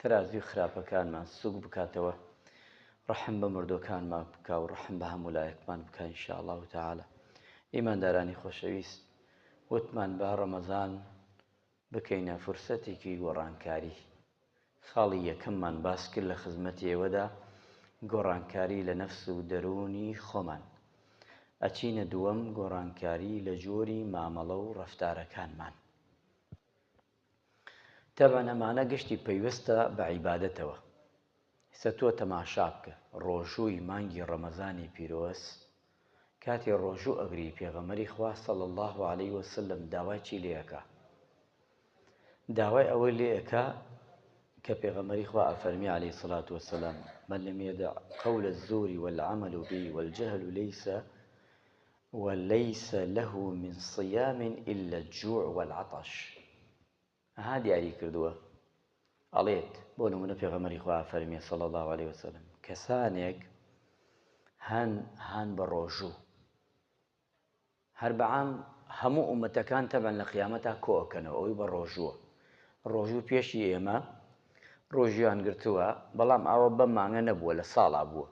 تەرازوی خراپەکانمان سوک بکاتەوە ڕەحم بە مردوەکانمان بکا و ڕەحم بە هەموو لایەکمان بکا ان شاء اللە تعالی ئیماندارانی خۆشەویست وتمان با ڕەمەزان بکەینە فرسەتێکی گۆڕانکاری خاڵی یەکەممان باس کرد لە خزمەتی ئێوەدا گۆڕانکاری لە نەفس و دەروونی خۆمان ئەچینە دووەم گۆڕانکاری لە جۆری مامەڵە و ڕەفتارەکانمان تەبعەن ئەمانە گشتی پەیوەستە بە عیبادەتەوە. ئیستا تۆ تەماشا بکە، ڕۆژووی مانگی ڕەمەزانی پیرۆز، کاتێ ڕۆژوو ئەگری پێغەمبەری خوا صلی اللە علیە وسلم داوای چی لێ ئەکا؟ داوای ئەوەی لێ ئەکا کە پێغەمبەری خوا ئەفەرمی علیە الصلاة والسلام من لم يدع قول الزور والعمل به والجهل ليس و لیس له من صیام الا الجوع و العطش ها دیاری کردووە ئەڵێت بۆ نمونە پێغەمبەری خوا ئەفەرمێ صلی اللە علیە وسلم کەسانێک هەن هان بە ڕۆژوو هەر بەعام هەموو ئومەتەکان تەبەن لە قیامەتا کۆکەنەوە ئەوی بە ڕۆژووە ڕۆژوو پێشی ئێمە ڕۆژیان گرتووە بەڵام ئاوە بەم مانگە نەبووە لە ساڵا بووە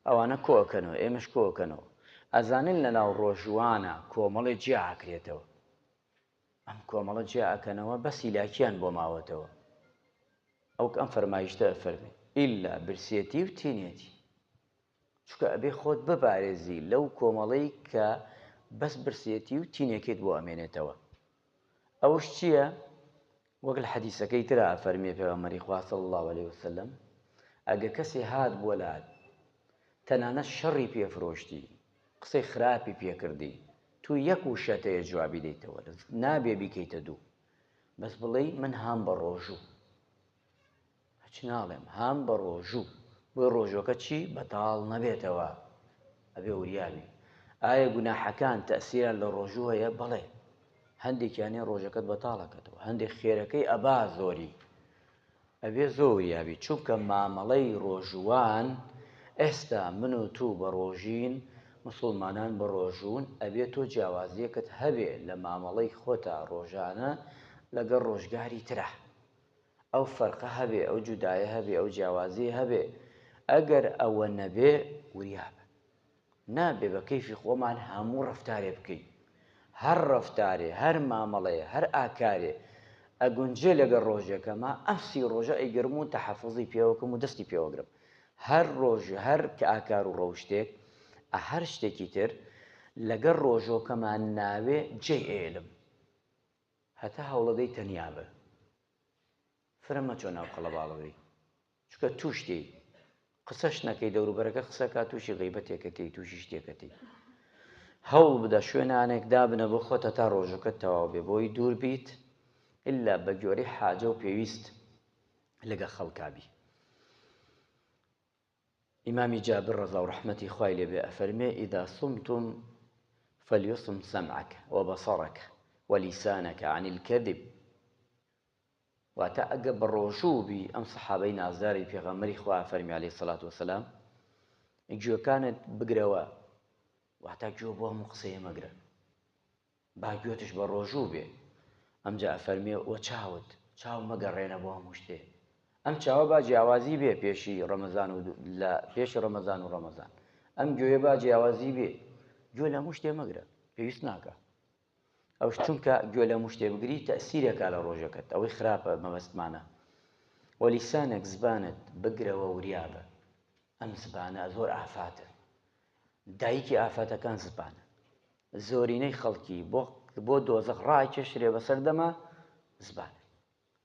ئەوانە کۆ ئەکەنەوە ئێمەش کۆ ئەکەنەوە ئەزانن لەناو ڕۆژوانە کۆمەڵێ جیا ئەکرێتەوە ئەم کۆمەڵە جیا ئەکەنەوە بەس هیلاکیان بۆ ماوەتەوە ئەوک ئەم فەرمایشتە ئەفەرمێ ئیلا برسێتی و تینێتی چونکە ئەبێ خۆت ببارێزی لەو کۆمەڵەی کە بەس برسێتی و تینێکیت بۆ ئەمێنێتەوە ئەوش چییە وەک لە حەدیسەکەی ترا فەرمیێ پێغەمەری خوا صلی الله علیه وسلم ئەگە کەسێ هات بۆ لات تەنانەت شەڕی پێفرۆشتی قسەی خراپی پێکردی تو یەک وشە تەیە جوابی دەیتەوە نابێ بیکەیتە دوو بەس بڵێی من هام بە ڕۆژوو هەچ ناڵێم هام بە ڕۆژوو بۆی ڕۆژوەکە چی بەتاڵ نەبێتەوە ئەبێ وریابی ئایا گوناحەکان تەسیران لە ڕۆژوو هەیە بەڵێ هەندێکیانێ ڕۆژەکەت بەتاڵەکەتەوە هەندێک خێرەکەی ئەبا زۆری ئەبێ زۆریابی چونکە مامەڵەی ڕۆژوان ئێستا من و تو بە ڕۆژین مسلمانان بە ڕۆژون ئەبێ تۆ جیاوازیەکەت هەبێ لە مامەڵەی خۆتا ڕۆژانە لەگەڵ ڕۆژگاری ترا ئەو فەرقە هەبێ، ئەو جودایە هەبێ، ئەو جیاوازییە هەبێ، ئەگەر ئەوە نەبێ وریا بن. نابێ بە کەیفی خۆمان هەموو ڕەفتارێ بکەین. هەر ڕەفتارێ، هەر مامەڵەیە، هەر ئاکارێ ئەگونجێ لەگەڵ ڕۆژێکەما، ئەم سی ڕۆژە ئەیگرم و تەحەفوزی پێوە کەم و دەستی پێوە گرم. هەر ڕۆژ، هەر ئاکار و ڕەوشتێک، ئە هەر شتێکی تر لەگەڵ ڕۆژۆکەما ناوێ جێی ئەیەلم. هەتا هەوڵەدەی تەنیا بە فرە مەچۆ ناو قەڵەباڵغی چونکە توش دێی قسەش نەکەی دەوروبەرەکە قسەکە تووشی غیبەتێکە تێی تووشی شتێکە تێی هەوڵ بدە شوێنانێک دابنە بۆ خۆتە تا ڕۆژەکە تەواو بێ بۆی دوور بیت ئللا بە گۆری حاجە و پێویست لەگە خەڵکبی ئیمامی جابر ڕەزاو ڕەحمەتی خوای لێ بێ ئەفەرمێ، اذا صمتم فلیصم سمعک وبصرک ولیسانک عن الکذب، واتە ئەگە بەڕۆژوو بی، ئەم سەحابەی نازداری پێغەمبەری خوا ئەفەرمێ علیە سەلات وسلام، گوێکانت بگرەوە، واتە گوێ بۆ هەموو قسەیە مەگرە، با گوێتش بە ڕۆژوو بێ. ئەمجا ئەفەرمێ، وە چاوت؟ چاو مەگەڕێنە بۆ هەموو شتێ. ئەم چاوە با جیاوازی بێ پێشی ڕەمەزان و لە پێش ڕەمەزان و ڕەمەزان. ئەم گوێیە با جیاوازی بێ. گوێ لە هەموو شتێ مەگرە، پێویست ناکا. ئەوش چونکە گوێ لە هەموو شتێ بگری تەئسیر ئەکا لە ڕۆژەکەت، ئەوەی خراپە مەبەستمانە. وە لیسانک، زبانت، بگرەوە وریا بە. ئەم زبانە زۆر ئافاتە. دایکی ئافاتەکان زبانە. زۆرینەی خەڵکی بۆ بۆ دۆزەخ ڕائەکێشرێ بەسەر دەمە زبان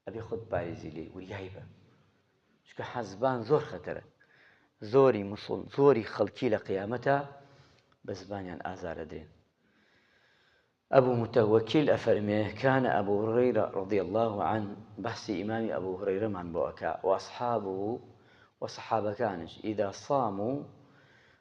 ئەبێ خۆت پاریزی لێی وریای بە چکە حەزبان زۆر خەتەرە زۆری مسڵ زۆری خەڵکی لە قیامەتە بە زبانیان ئازارە درێن ئەبوو متەوەکیل ئەفەرمێ کانە ئەبوو ڕێرە ڕدی الله عن بەحسی ئیمامی ئەبوو هڕێرەمان بۆ ئەکا وەصحاب و وەصحابەکانش ئیدا سام و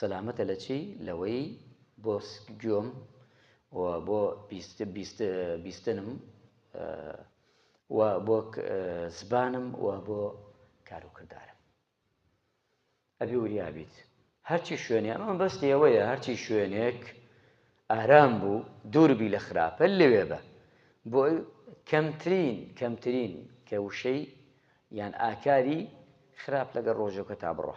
سەلامەتە لە چی؟ لەوەی بۆ گوێم و بۆ بیستنم و بۆ زبانم و بۆ کار و کردارم ئەبی وریا بیت هەرچی شوێنێ ئەمە مەبەستی ئەوەیە هەرچی شوێنێک ئارام بوو دوور بی لە خراپە لەوێ بە بۆ کەمترین کەمترین کە وشەی یان ئاکاری خراپ لەگەڵ ڕۆژەکەتا بڕۆ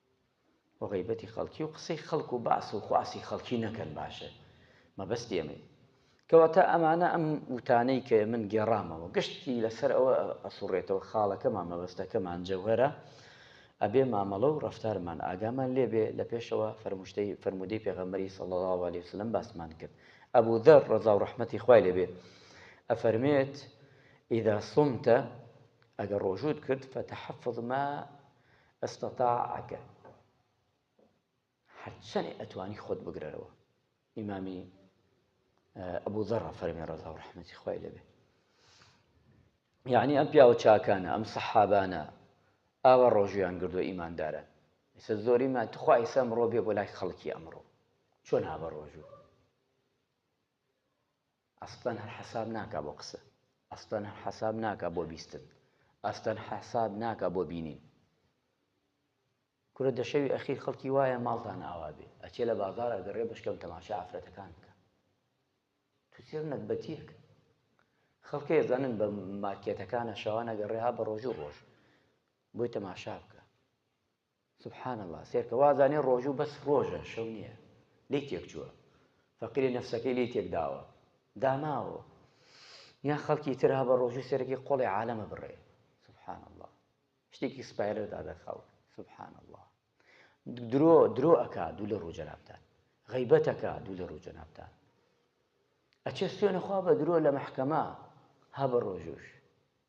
و غەیبەتی خەڵکی و قسەی خەڵک و باس و خواسی خەڵکی نەکەن باشە مەبەستی ئەمەی کەواتە ئەمانە ئەم وتانەی کە من گێڕامەوە گشتی لەسەر ئەوە ئەسوڕێتەوە خاڵەکەمان مەبەستەکەمان جەوهەرە ئەبێ مامەڵە و ڕەفتارمان ئاگامان لێبێ لە پێشەوە فەرموشتەی فەرمودەی پێغەمبەری صلی الله علیه وسلم باسمان کرد ئەبو ذر ڕەزا و ڕەحمەتی خوای لێبێ ئەفەرمێت اذا صمت ئەگەر ڕۆژوت کرد فتحفظ ما استطاعک هەرچەنێ ئەتوانی خۆت بگرەرەوە ئیمامی ئەبوو ذەڕە فەرمی ڕەزا و ڕحمەتی خوای لەبێ یعنی ئەم پیاوە چاکانە ئەم سەحابانە ئاوا ڕۆژیان گردو ئیماندارن ئستا زۆری ما تخوا ئیسا مرۆ بێ بۆ لای خەڵکی ئەمڕۆ چۆن هاوە ڕۆژوو ئەسڵەن هەر حەساب ناکا بۆ قسە. ئەسڵەن هەر حەساب ناکا بۆ بیستن. ئەسڵەن حەساب ناکا بۆ بینین. کورە دە شەوی ئەخیر خەڵکی وایە ماڵتان ئاوا بێ ئەچێ لە بازاڕ ئەگەڕێ بەشکەم تەماشای عەفرەتەکان بکە. تو چێڕ نەگبەتیەک. خەڵکێ ئەزانن بە مارکێتەکانە شەوان ئەگەڕێ ها بە ڕۆژو ڕۆژ بۆی تەماشا بکە. سبحان اللە سێرکە وازانێ ڕۆژوو بەس ڕۆژە شەو نیە لێی تێک چووە فەقیری نەفسەکەی لێی تێک داوە داماوە یان خەڵکی تر هەبە ڕۆژوو سێرەکی قۆڵی عالەمە بڕێ سبحان اللە شتێکی سپایلەر دادەخاو سبحان اللە درۆ درۆ ئەکا دوو لە ڕوو جەنابتان غیبەتەکە دوو لە ڕوو جەنابتان ئەچێ سوێنە خوا بە درۆ لە مەحکەمە ها بە ڕۆژوش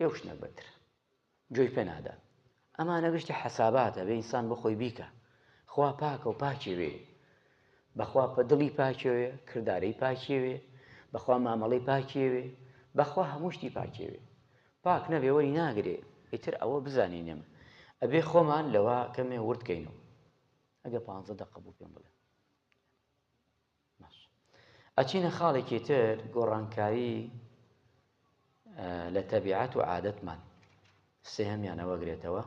لەو شتە بەتر گوێی پێ نادات ئەمانە گشتی حەساباتە بێ ئینسان بۆ خۆی بیکە خوا پاکە و پاکی وێ بەخوا پە دڵی پاکێوێ کردارەی پاکێوێ بەخوا مامەڵی پاکێوێ بەخوا هەموو شتی پاکێوێ پاک نەبێ وەری ناگرێ ئیتر ئەوە بزانین نێمە ئەبێ خۆمان لەوە کەمێ وردکەینەوە ئەگە پ دقە بوو پێم بڵێ باش ئەچینە خاڵێکی تر گۆڕانکاری لە تەبیعەت و عادەتمان سێهمیانە وەگرێتەوە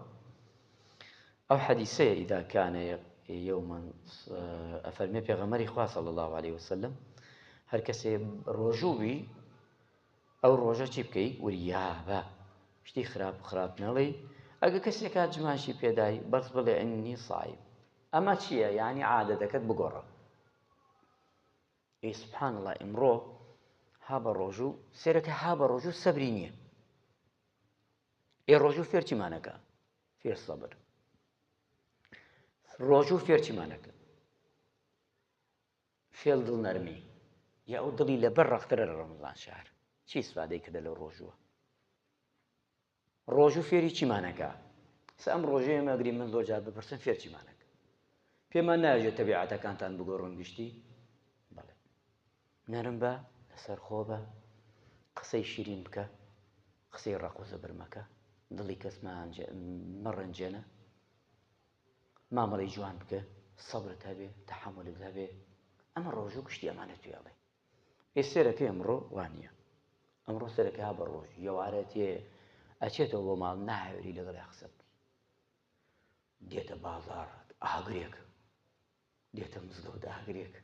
ئەو حەدیسەیە ئیداکانە یومن ئەفەرمێ پێغەمەری خواسە لە الله عليه وسلم هەر کەسێ ڕۆژووی ئەو ڕۆژە چی بکەی وریابە شتی خراپ و خراپ نەڵێ ئەگە کەسێکات جماشی پێدای بەس بڵێ ئەنی سایم ئەمە چیە یانی عادەتەکەت بگۆڕە. ئێ سبحان اللە ئیمڕۆ ها بە ڕۆژوو سێرەکە ها بە ڕۆژوو سەبری نییە ئێ ڕۆژوو فێرچیمانەکە فێر سەبر ڕۆژوو فێرچیمانەکە فێڵ دڵ نەرمی یا ئەو دڵی لەبەر ڕەخترە لە ڕەمەزان شار چی سوادەی کردە لە ڕۆژووە ڕۆژوو فێری چیمان ئەکا؟ سە ئەم ڕۆژەیە مەگری من زۆر جار بپرسن فێر چیمان ئەکا؟ پێمان نایەژێ تەبیعەتەکانتان بگۆڕن گشتی؟ بەڵێ نەرم بە لەسەر خۆ بە قسەی شیرین بکە قسەی ڕق و زەبر مەکە دڵی کەس مەڕەنجێنە مامەڵی جوان بکە سەبرت هەبێ تەحملت هەبێ ئەمە ڕۆژوو گشتی ئەمانە توێڵێ ئێ سێرەکەی ئەمڕۆ وا نییە. ئەمڕۆ سەرەکە بە ڕۆژی یەوارە تێ ئەچێتەوە بۆ ماڵ ناهێری لەگەڵی قسە بکەی دێتە بازار ئاگرێک دێتە مزگەوت ئاگرێک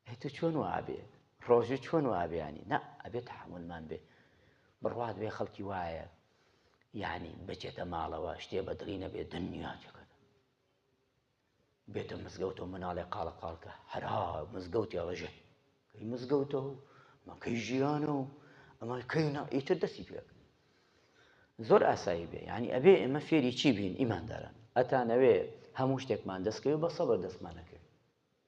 ئەی تو چۆن وابێ ڕۆژی چۆن وابیانی نا ئەبێ تحملمان بێ بڕوات بێ خەڵکی وایە یعنی بچێتە ماڵەوە شتێ بەدڵی نەبێ دنیا چەکەت بێتە مزگەوتەوە مناڵێ قاڵە قاڵکە هەرا مزگەوتی ئەڵەژێ کەی مزگەوتە و مەکەی ژیانە و ئەمە کەینا ئیتر دەستی پێک زۆر ئاسایی بێ ینی ئەبێ ئێمە فێری چی بین ئیمانداران ئەتانەوێ هەموو شتێکمان دەستکەوێ بە سەبەر دەستمانەکەوێت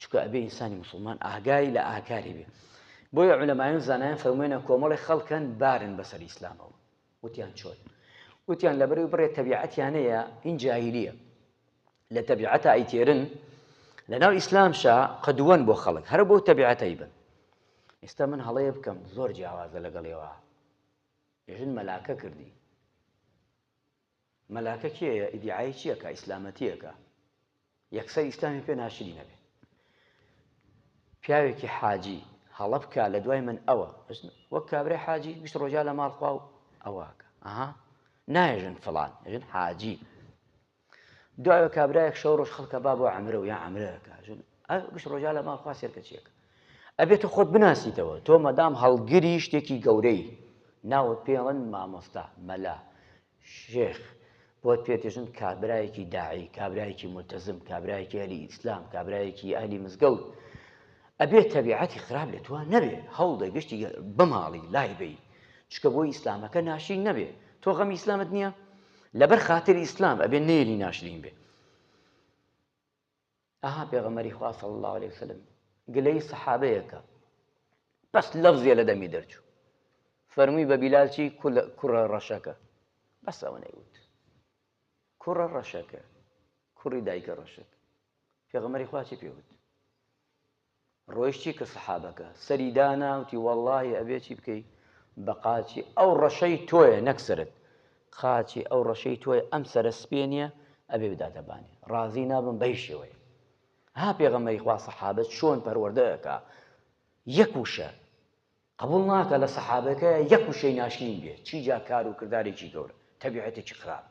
چونکە ئەبێ ئینسانی موسڵمان ئاگای لە ئاکاری بێ بۆیە عولەمایان زانایان فەرموێنە کۆمەڵی خەڵکەن بارن بەسەر ئیسلامەوە وتیان چۆن وتیان لە بەرەوەی بڕێ تەبیعەتیانەیە ئین جاهلیە لە تەبیعەتە ئەیتێرن لە ناو ئیسلامشا قەدووەن بۆ خەڵک هەر بۆ تەبیعەتەی بن ئێستا من هەڵەیە بکەم زۆر جیاوازە لەگەڵێەوە ژن مەلاکە کردی مەلاکە کێیە ئیدیعای چی ئەکا ئیسلامەتی ئەکا یەکسەر ئیسلامی پێ ناشرین ئەبێ پیاوێکی حاجی هەڵە بکا لە دوای من ئەوە وەک کابرای حاجی گشت ڕۆژا لە ماڵخوا و ئەوواکە ئەها نایژن فلان ژن حاجی دوای کابراایەک شەو ڕۆژ خەڵکە با بۆ ئەمرە و یا ئەمرەکە ژن گشت ڕۆژا لە ماڵخوا سێرکە چیەکە ئەبێ تۆ خۆت بناسیتەوە تۆ مەدام هەڵگری شتێکی گەورەی ناوت پێ ئەڵێن مامۆستا مەلا شێخ بۆت پێ دێژن کابرایەکی داعی کابرایەکی ملتەزم کابرایەکی ئەهلی ئیسلام کابرایەکی ئەهلی مزگەوت ئەبێ تەبیعەتی خراپ لە تۆ نەبێ هەوڵدە گشتی بماڵی لای بی چکە بۆی ئیسلامەکە ناشین نەبێ تۆ غەمی ئیسلامت نییە لەبەر خاتری ئیسلام ئەبێ نێری ناشرین بێ ئەها پێغەمبەری خوا صلی اللە علیە وسلم گلەی سەحابەیەکە بەس لەفزێ لە دەمی دەرچوو فەرمووی بە بیلال چی کوڕە ڕەشەکە بەس ئەوەنەی وت کوڕە ڕەشەکە کوڕی دایکە ڕەشەکە پێغەمەری خوا چی پێوت ڕۆیشتی کە سەحابەکە سەری دانا وتی وەڵاهی ئەبێ چی بکەی بە قاچی ئەو ڕەشەی تۆیە نەک سەرت قاچی ئەو ڕەشەی تۆیە ئەم سەرە سپێ نییە ئەبێ بداتە بانی ڕازی نابم بەی شێوەیە ها پێغەمەری خوا سەحابە چۆن پەروەردە ئەکا یەک وشە قبوڵ ناکا لە سەحابەکە یەک وشەی ناشرین بێ چی جا کار و کردارێکی گەورە تەبیعەتێکی خراپ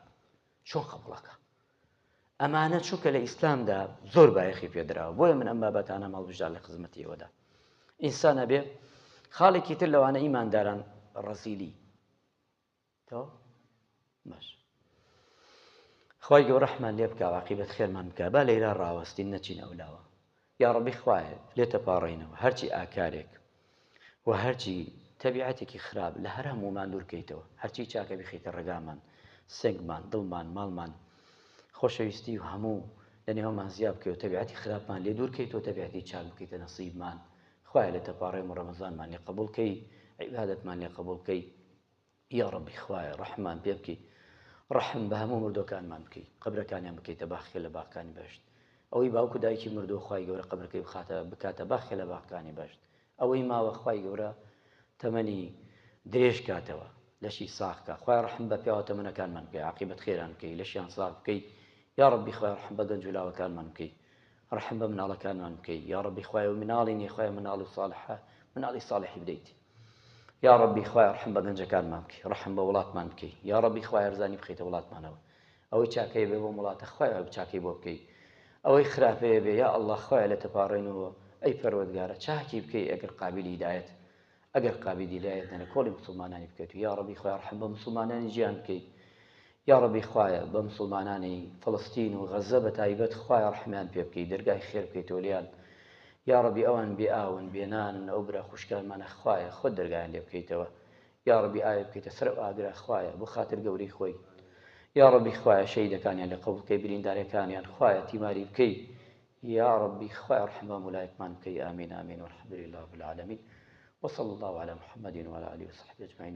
چۆن قبوڵ ئەکا ئەمانە چونکە لە ئیسلامدا زۆر بایەخی پێدراوە بۆیە من ئەم بابەتانە ماڵبژدار لە خزمەتی ئێوەدا ئینسان ئەبێ خاڵێکی تر لەوانە ئیمانداران ڕەزیلی تەواو باش خوای گەورە ڕەحمان لێ بکا و عاقیبەت خێرمان بکا با لەیرا ڕاوەستین نەچین ئەو لاوە یاڕەبی خوایە لێ تەپاڕێینەوە هەرچی ئاکارێک و هەرچی تەبیعەتێکی خراپ لە هەر هەموومان دوورکەیتەوە هەرچی چاکە بخیتە ڕێگامان سنگمان دڵمان ماڵمان خۆشەویستی و هەموو لە نێومان زیاب بکەوە تەبیعەتی خراپمان لێ دوورکەیتەوە تەبیعەتی چاک بکەیتە نەسیبمان خوایە لە تەپاڕێم و ڕەمەزانمان لێ قبولکەی عیبادەتمان لێ قبولکەی یاڕەبی خوایە ڕەحممان پێ بکەی ڕەحم بە هەموو مردووەکانمان بکەی قەبرەکانیان بکەیتە باخێ لە باخکانی بەهەشت ئەوەی باوک و دایکی مردووە خوای گەورە قەبرەکەی بخاتە بکاتە باخێ لە باخکانی بەهەشت ئەوەی ماوە خوای گەورە تەمەنی درێژ کاتەوە لەشی ساخکە خوای ڕەحم بە پیاوە تەمەنەکانمان بکەی عاقبەت خێران بکەی لەشیان ساخ بکەی یا ڕەبی خوای ڕەحم بە گەنج و لاوەکانمان بکەی ڕەحم بە مناڵەکانمان بکەی یا ڕەبی خوای و مناڵی نیە خوای مناڵ و ساڵحە مناڵی ساڵحی بدەیت یاڕەبی خوایە ڕەحم بە گەنجەکانمان بکەی ڕەحم بە وڵاتمان بکەی یاڕەبی خوایە هەرزانی بخەیتە وڵاتمانەوە ئەوەی چاکەیە بێ بۆم وڵاتە خوایە چاکەی بۆ بکەی ئەوەی خراپەیە بێ یا اللە خوایە لە تەپاڕێنەوە ئەی پەروەردگارە چاکی بکەی ئەگەر قابیلی هیدایەت ئەگەر قابیلی هیدایەت نە لە کۆڵی مسوڵمانانی بکەیت و یاڕەبی خوایە ڕەحم بە مسوڵمانانی جیان بکەی یاڕەبی خوایە بە مسوڵمانانی فەڵستین و غەزە بە تایبەت خوایە ڕەحمیان پێ بکەی دەرگای خێر بکەیتەوە لێیان یاڕەبی ئەوان بێ ئاون بێ نانن ئەو برا خوشکانمانە خوایە خۆت دەرگایان لێ بکەیتەوە یاڕەبی ئاوی بکەیتە سەر ئەو ئاگرە خوایە بۆ خاتر گەورەی خۆی یاڕەبی خوایە شەهیدەکانیان لێ قەبوڵ کەی بریندارەکانیان خوایە تیماری بکەی یاڕەبی خوایە ڕەحم بەم ولایەتمان بکەی ئامین ئامین والحمدللە رب العالمین وصلی اللە علی محمد وعلی آله وصحبه اجمعین